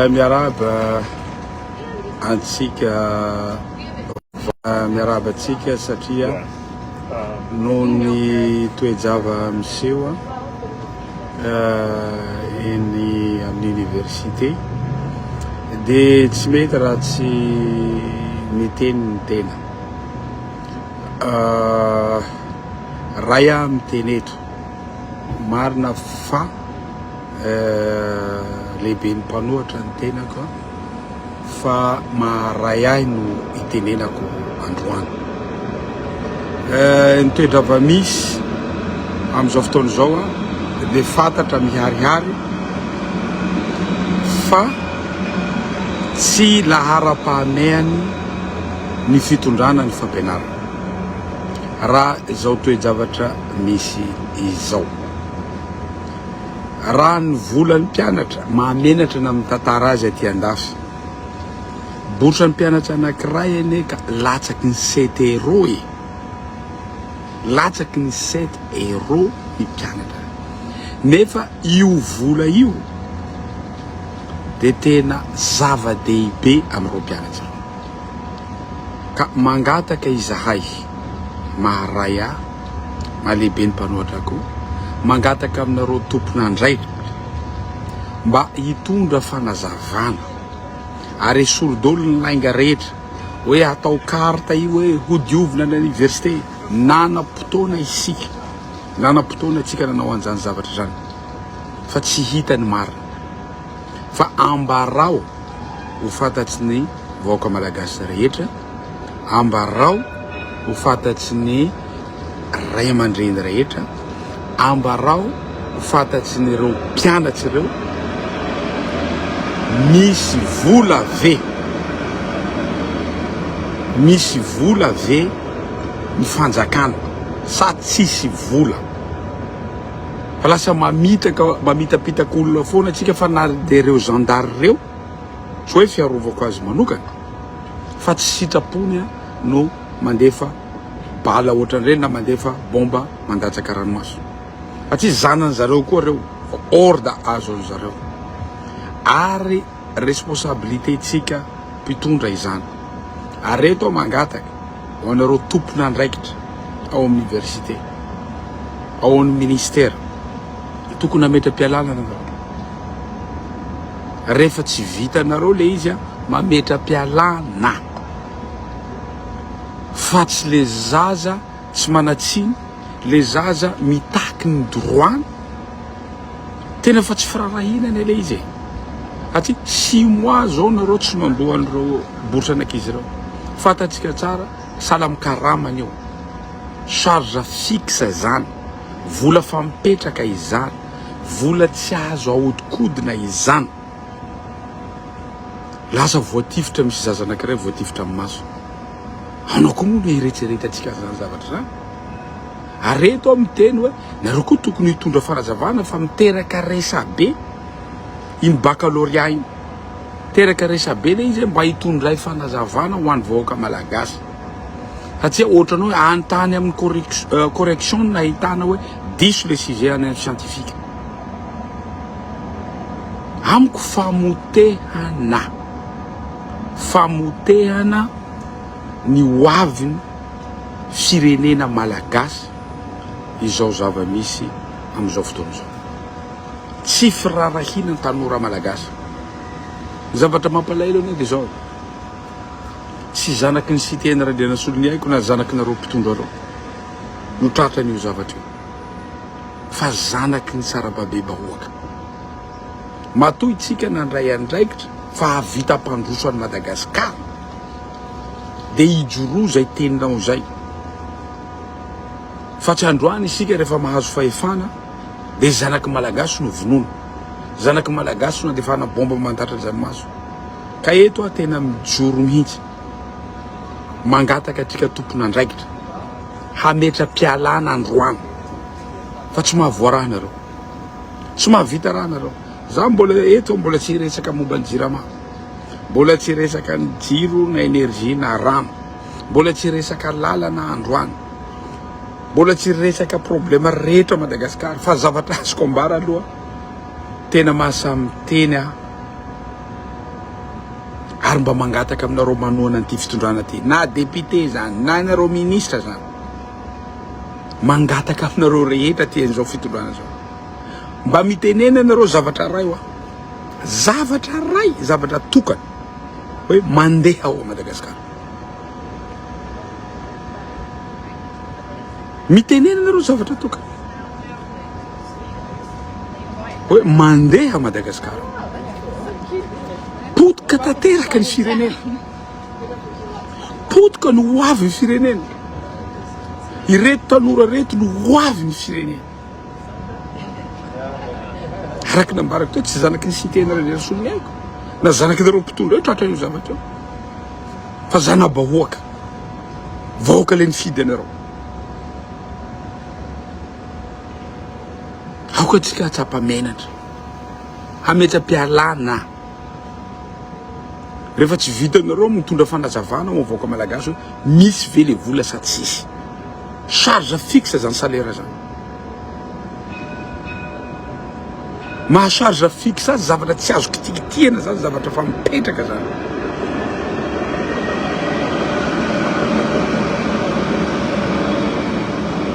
Miarahaba antsika miarahaba antsika satria noho ny toe-java miseho eny amin'ny université dia tsy mety raha tsy miteny ny tena raha aho miteny eto marina fa eh, lehiben'ny mpanohatra ny tenako an, fa maharay ahy no itenenako androany. Eh, ny toedrava misy amin'izao fotoana izao an, dia fantatra miharihary fa tsy laharam-pahamehany ny fitondrana ny fampianarana raha izao toe-javatra misy izao. Raha ny volan'ny mpianatra, mahamenatra ny amin'ny tantara azy aty an-dafy. Bourse ny mpianatra anankiray anie ka latsaky ny sept euro e! Latsaky ny sept euro ny mpianatra. Nefa io vola io dia tena zava-dehibe amin'ireo mpianatra ireo. Ka mangataka izahay, maharay ahy, mahalehibe ny mpanohatra koa, mangataka aminareo tompon'andraikitra mba hitondra fanazavana ary esory daholo ny lainga rehetra hoe hatao carte io hoe hodiovina ny aniversite, nanam-potoana isika, nanam-potoana antsika nanao an'izany zavatra izany fa tsy hita ny marina. fa ambarao ho fantatry ny vahoaka malagasy rehetra, ambarao ho fantatry ny ray aman-dreny rehetra, ambarao ho fantatry ny ireo mpianatry ireo, misy vola ve, misy vola ve ny fanjakana sa tsisy vola? Fa lasa mamitaka mamitapitaka olona foana tsika fa na dia ireo zandary ireo tsy hoe fiarovako azy manokana fa tsy sitrapony a no mandefa bala ohatran'ireny na mandefa bomba mandatsaka ranomaso fa tsy zanany zareo koa ireo fa ordre azo an'zareo ary Responsabilité tsika mpitondra izany. Ary eto aho mangataka ho anareo tompon'andraikitra ao amin'ny université, ao amin'ny ministère, dia tokony hametra-pialalana nareo. Rehefa tsy vitanareo le izy, mametra-pialana, fa tsy le zaza tsy manan-tsiny, le zaza mitaky ny droit-ny, Tena efa tsy firaharahiana anie le izy e! Satria six mois zao nareo tsy mandoa an'ireo bourse an'ankizy ireo. Fantatsika tsara, sahala amin'ny karama an'io. Charge fixe izany, vola efa mipetraka izany, vola tsy azo ahodikodina izany. Lasa voatifitra, misy zaza anankiray voatifitra amin'ny maso. Anao koa moa no hieretseretantsika an'izany zavatra izany? Ary reto aho miteny hoe. Nareo koa tokony hitondra fanazavana fa miteraka resabe iny baccalauréat iny. Miteraka resabe le izy mba hitondray fanazavana ho an'ny vahoaka malagasy. Satsia ohatran'ny hoe any tany amin'ny correction correction no nahitana hoe diso le sujet any amin'ny scientifique. Amiko famotehana famotehana ny hoavin'ny firenena malagasy. izao zava-misy amin'izao fotoana izao. Tsy firaharahiana ny tanora malagasy. Ny zavatra mampalahelo anie dia izao, tsy zanaky ny Siteny Randrianasolo ny aiko na zanaky nareo mpitondra ireo no tratra an'io zavatra io fa zanaky ny sarababebahoaka. Matoa itsika nandray andraikitra fa hahavita hampandroso an'i Madagasikara dia hijoroa izay teninao izay. Fa tsy androany isika rehefa mahazo fahefana dia zanaky malagasy no vonoina, zanaky malagasy no andefana bomba mandatra dranomaso. Ka eto aho tena mijoro mihitsy mangataka atsika tompon'andraikitra hametra-pialana androany fa tsy mahavoaraha nareo, tsy mahavita raha nareo. Za mbola eto mbola tsy hiresaka momba ny jirama, mbola tsy hiresaka ny jiro na energie na rano. Mbola tsy resaka lalana androany. Mbola tsy resaka problema rehetra ao Madagasikara. Fa zavatra azoko ambara aloha, tena mahasamy teny aho. Ary mba mangataka aminareo manohana an'ity fitondrana ity. Na député izany, na ianareo ministra izany. Mangataka aminareo rehetra aty an'izao fitondrana izao. Mba mitenena ianareo zavatra iray hoa. Zavatra iray, zavatra tokana hoe mandeha ao Madagasikara. Mitenena ianareo zavatra tokana. Hoe mandeha Madagascar. Potika tanteraka ny firenena. Potika no ho avy ny firenena. Ireto tanora reto no ho avy ny firenena. Araka ny nambarako teo, tsy zanaky ny Siteny Randrianasolo ny aiko, na zanaky nareo mpitondra eo tratra io zavatra io, fa zana-bahoaka, vahoaka le nifidy anareo. Aoka tsika hatsapa menatra, hametra-pialana. Rehefa tsy vitanareo mitondra fanazavana ho an'ny vahoaka malagasy hoe misy ve le vola sa tsisy. Charge fixe zany salaire zany. Maha charge fixe azy zavatra tsy azo kitikitihana zany zavatra fa mipetraka zany.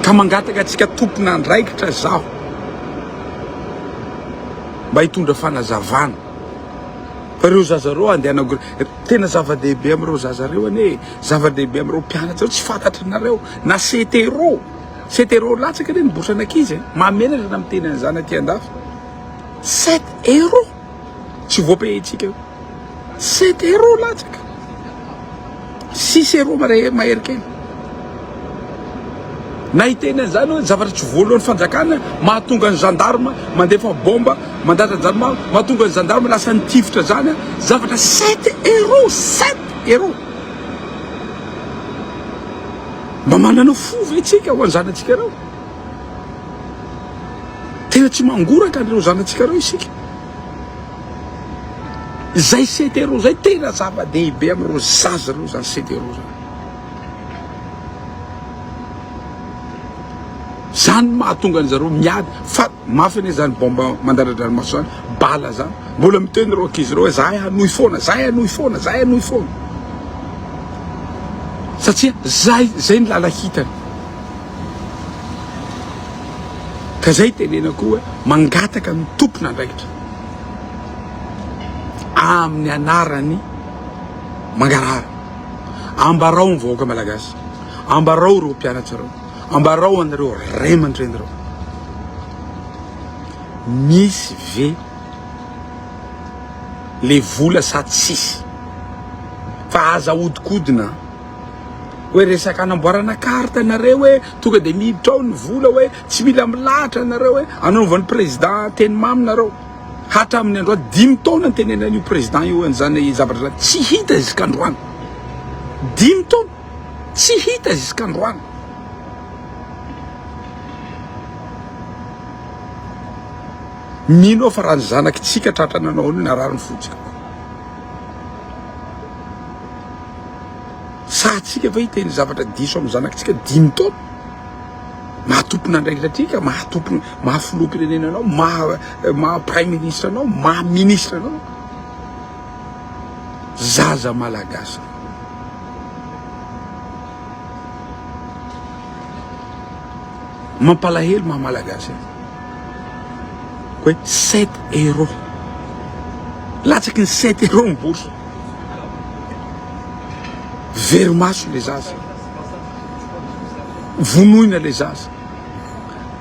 Ka mangataka antsika tompon'andraikitra zaho. mba hitondra fanazavana fa reo zaza reo andehana tena zava-dehibe amin'ireo zaza reo anie zava-dehibe amin'ireo mpianatra tsy fantatry nareo na setero setero latsaka anie ny bourse an'ankizy e mahamenatra na miteny an'izany aty an-dafy sept euro tsy voapehitsika Cetero latsaka, Cicero mahery kely na hiteny an'izany hoe zavatra tsy voalohan'ny fanjakana mahatonga ny gendarme mandefa bomba mandatra jarma mahatonga ny gendarme lasa ny tifitra zany zavatra sept euro sept euro mba manana fo ve tsika ho an'ny zanatsika ireo tena tsy mangoraka an'ireo zanatsika ireo isika Izay CTRO izay tena zava-dehibe amin'ireo zaza ireo izany CTRO izany. Izany no mahatonga an'i zareo miady fa mafy anie izany baomba mandaradranomaso izany, bala izany. Mbola miteny ireo ankizy ireo hoe izahay hanohy foana, izahay hanohy foana, izahay hanohy foana. Satria izay, izay ny làla hitany. Ka zay tenenako hoe mangataka ny tompon'andraikitra amin'ny anarany mangarahara. Ambarao ny vahoaka malagasy, ambarao ireo mpianatra ireo, ambarao anareo ray aman-dreny ireo. Misy ve le vola sa tsisy? Fa aza hodikodina. Hoe resaka anamboarana carte nareo hoe tonga dia miditra ao ny vola hoe tsy mila milahatra nareo hoe anaovan'ny président teny mamy nareo. Hatramin'ny andro ato dimy taona ny tenenany io président io an'izany zavatra izany tsy hita zisk'androany. Dimy taona tsy hita zisk'androany. Mino fa raha ny zanaky tsika tratra nanao an'io narary ny fontsika. Sahatsika ve hiteny zavatra diso amin'ny zanakitsika dimy taona? Maha tompon'andraikitra antsika, maha tompon, maha filoham-pirenena anao, maha, maha praiminisitra anao, maha minisitra anao. Zaza malagasy. Mampalahelo maha malagasy azy. hoe sept euros. Latsaky ny sept euros ny bourse. Very maso le zaza. Vonoina le zaza.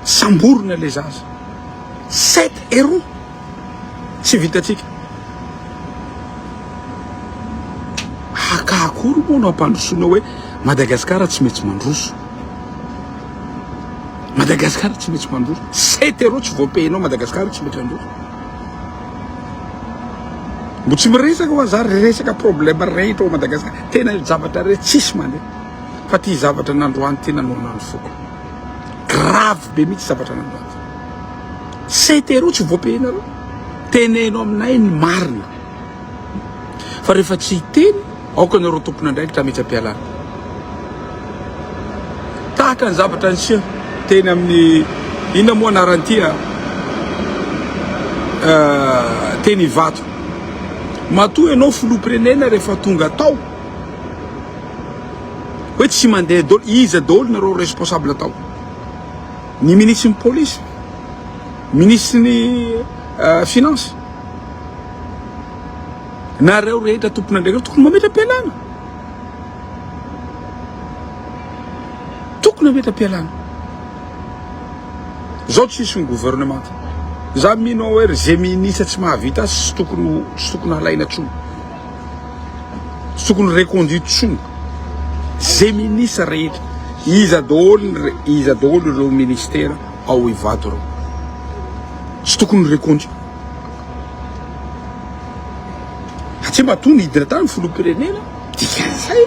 Samborina le zaza. Sept euros. Tsy vitantsika. Haka akory moa no ampandrosoana hoe Madagascar tsy maintsy mandroso. Madagascar tsy maintsy mandroso. C'est héros tsy voapehinao Madagascar tsy maintsy handroso. Mbo tsy miresaka hoa za resaka problème rehetra ao Madagascar. Tena zavatra rehetra tsisy mandeha. Fa ty zavatra nandroany ty nanorina ny foko. Grave be mitsy zavatra nandroany. Tsy teroa tsy voapehinareo. Teneno aminay ny marina. Fa rehefa tsy hiteny, aoka ianareo tompon'andraikitra hametra-pialana. Tahaka ny zavatra niseho teny amin'ny inona moa anaran'ity a? teny Ivato. Matoa ianao filoham-pirenena rehefa tonga tao hoe tsy mandeha daholo, iza daholo nareo responsable tao? Ny minisitry ny polisy, minisitry ny finances, nareo rehetra tompon'andraikitra tokony mametra-pialana. Tokony mametra-pialana. Zao tsisy ny gouvernement. Za mino hoe ze minisitra tsy mahavita sy tokony tsy tokony halaina tsony. tsy tokony reconduite tsony ze ministre rehetra iza daholo iza daholo ireo ministera ao Ivato ireo tsy tokony reconduite satria matoa nidina tany filoham-pirenena dikan'izay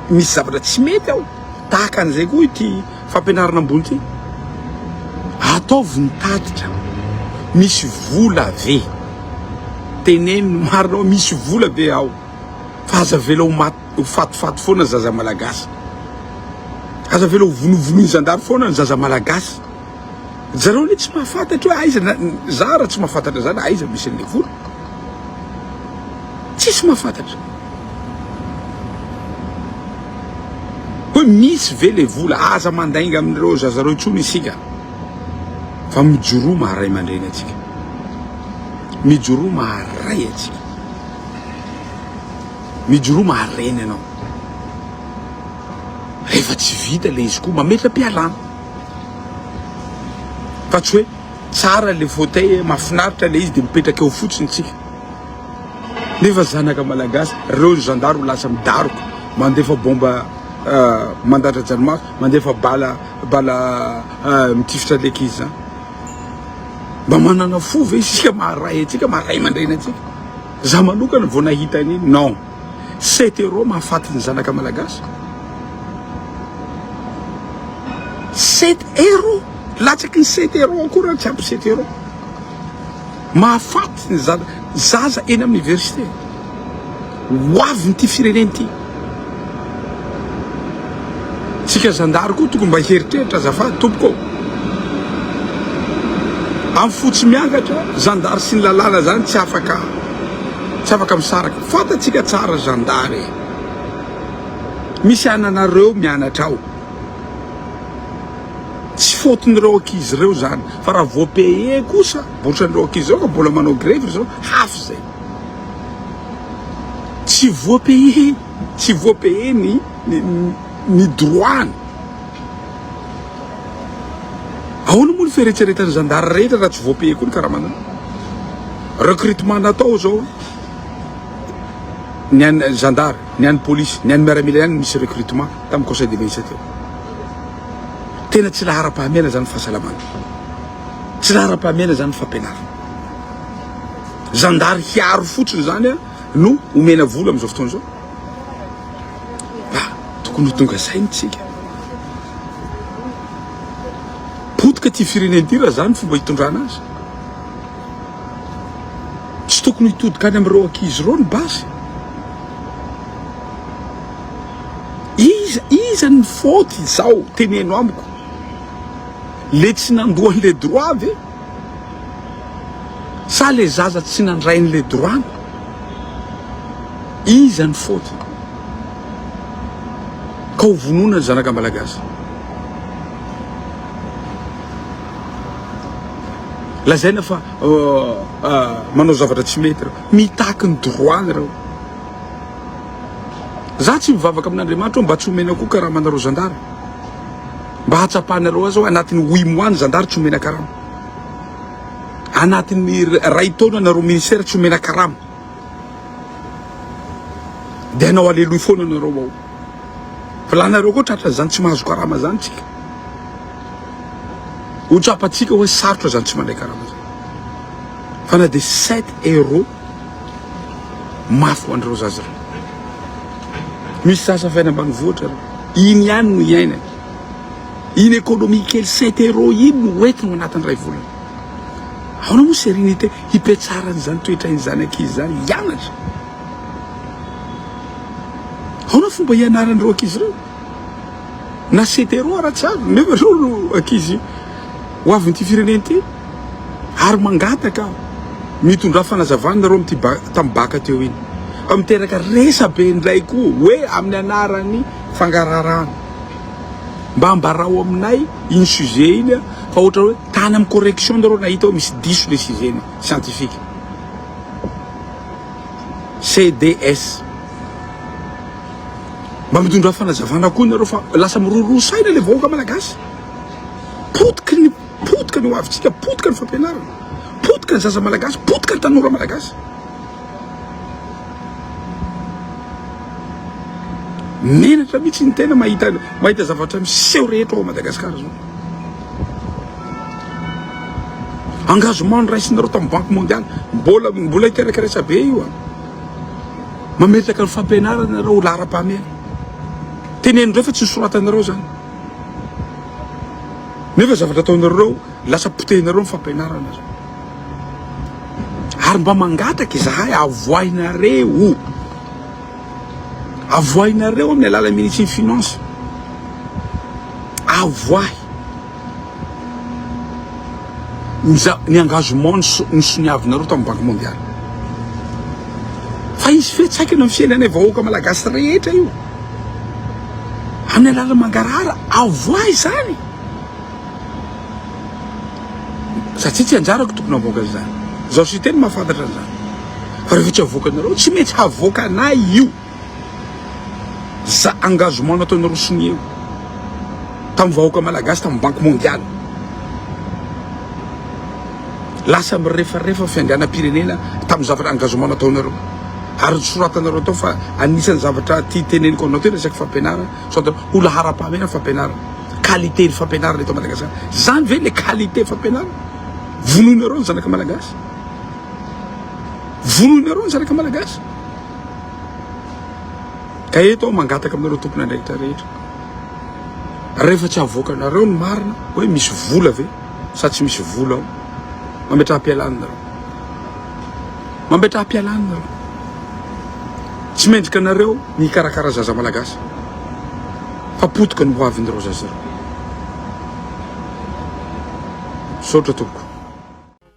misy zavatra tsy mety ao tahaka an'izay koa ity Fampianarana ambony ty? Ataovy ny tatitra, misy vola ve? Teneno ny marina hoe misy vola ve ao? Fa aza avela ho maty ho fatifaty foana ny zaza malagasy. Aza avela ho vonovonoin'ny zandary foana ny zaza malagasy. Zareo anie tsy mahafantatra hoe aiza na za raha tsy mahafantatra zany aiza misy an'ilay vola. Tsisy mahafantatra. Hoe misy ve le vola? Aza mandainga amin'ireo zaza ireo intsony isika fa mijoroa maha ray aman-dreny antsika. Mijoroa maha ray antsika. Mijoroa maha reny anao. Rehefa tsy vita le izy koa mametra-pialana. Fa tsy hoe tsara le fauteuil, mahafinaritra le izy de mipetraka eo fotsiny tsika. Nefa zanaka malagasy reo ny zandaro lasa midaroka mandefa bomba mandadradranomaso mandefa bala bala mitifitra leki izy zany mba manana fo ve isika maha ray antsika maha ray aman-dreny antsika za manokana vao nahita an'iny non cet euro mahafaty ny zanaka malagasy cet euro latsaky ny cet euro akory ary tsy ampy cet euro Mahafaty ny zaza eny amin'ny oniversite. Ho avin'ity firenena ity. Tsika zandary koa tokony mba hieritreritra azafady tompoko. Amin'ny fo tsy miangatra, zandary sy ny lalàna zany tsy afaka tsy afaka misaraka. Fantatsika tsara zandary. Misy ananareo mianatra ao. Tsy faute-n'ireo ankizy ireo izany, fa raha vao payer kosa, ohatran'ireo ankizy izao ka mbola manao grevy ry zareo, hafa izay. Tsy voapayer, tsy voapayer ny ny ny droit-ny. Ahoana moa ny fieretseretan'ny zandary rehetra raha tsy voapayer koa ny karamanao? Recrutement natao izao, ny an'ny zandary, ny an'ny polisy, ny an'ny miaramila ihany no misy recrutement tamin'ny conseil des ministres teo. Tena tsy laharam-pahamehana izany ny fahasalamana. Tsy laharam-pahamehana izany ny fampianarana. Zandary hiaro fotsiny izany no omena vola amin'izao fotoana izao. Ah, tokony ho tonga saina isika. Potika ity firenena ity raha izany fomba hitondrana azy. Tsy tokony hitodika any amin'ireo ankizy ireo ny basy. Iza iza ny faute izao teneno amiko le tsy nandoa anle droit ve sa le zaza tsy nandray anle droit ny iza ny faute ka ho vonoina ny zanaka malagasy lazaina fa manao zavatra tsy mety reo mitaky ny droit ny reo. Za tsy mivavaka amin'Andriamanitra hoe mba tsy omena koa karama anareo zandary. Mba hatsapanareo aza hoe anatin'ny huit mois ny zandary tsy omena karama. Anatin'ny ray taona nareo ministère tsy omena karama. Dia anao aleloy foana nareo ao. Fa lanareo koa tratra zany tsy mahazo karama zany tsika. Ho tsapantsika hoe sarotra zany tsy mandray karama zany. Fa na dia sept euros Mafy ho an'ireo zaza. Misy zaza avy any ambanivohitra ireo. Iny ihany no iainany. Iny économie kely sept euros iny no hoentiny ao anatin'ny iray volana. Ahoana moa sérénité hipetraran' izany toetrain'ny zanak'izy izany hianatra? Ahoana fomba hianaran'ireo ankizy ireo? Na Cedero ratsy avy nefa ianao no ankizy ho avin'ity firenena ity ary mangataka mitondrà fanazavana nareo amin'ity tamin'ny baka teo iny fa miteraka resabe indray koa hoe amin'ny anaran'ny fangararana. Mba ambarao aminay iny sujet iny fa ohatra hoe tany amin'ny correction nareo nahita hoe misy diso le sujet ny scientifique. CDS. Mba mitondra fanazavana koa nareo fa lasa miroroa saina le vahoaka malagasy. Potika ny potika ny hoavintsika, potika ny fampianarana, potika ny zaza malagasy, potika ny tanora malagasy. Menatra mihitsy ny tena mahita mahita zavatra miseho rehetra ao Madagascar zao. Engagement niraisinareo tamin'ny Banque mondiale, mbola mbola hiteraka resabe io an. Ah. Mametraka ny fampianarana ianareo ho laharam-pahamehana. Teneninareo fa tsy nosoratanareo izany. Nefa zavatra ataonareo, lasa potehinareo ny fampianarana. Ary mba mangataka izahay avoahinareo. Avoahinareo amin'ny alalan'ny minisitry ny Finances. Avoahy. ny engagement nisoniavinareo tamin'ny banky mondialy fa hisy fiantraikany amin'ny fiainanay vahoaka malagasy rehetra io amin'ny alalan'ny mangarahara avoa izany satria tsy anjarako tokony avoaka izany zaho sy teny mahafantatra an'izany fa rehefa tsy avoakanareo tsy maintsy havoakanay io Za engagement nataonareo sonia io tam vahoaka malagasy tam banque mondiale lasa mirefarefa fianganan pirenena tam zavatra engagement nataonareo ary soratanareo tao fa anisan'ny zavatra ty teneniko anao ty resaka fampianarana soratanareo ho laharam-pahamena fampianarana qualité ny fampianarana eto Madagasikara zany ve le qualité fampianarana vonoinareo ny zanaka malagasy vonoinareo ny zanaka malagasy Ka eto aho mangataka aminareo tompon'andraikitra rehetra, rehefa tsy avoakanareo ny marina hoe misy vola ve sa tsy misy vola ao, mametraha-pialana nareo. Mametraha-pialana nareo. Tsy mendrika anareo ny hikarakara zaza malagasy, fa potika ny hoavin'ireo zaza ireo. Misaotra tompoko.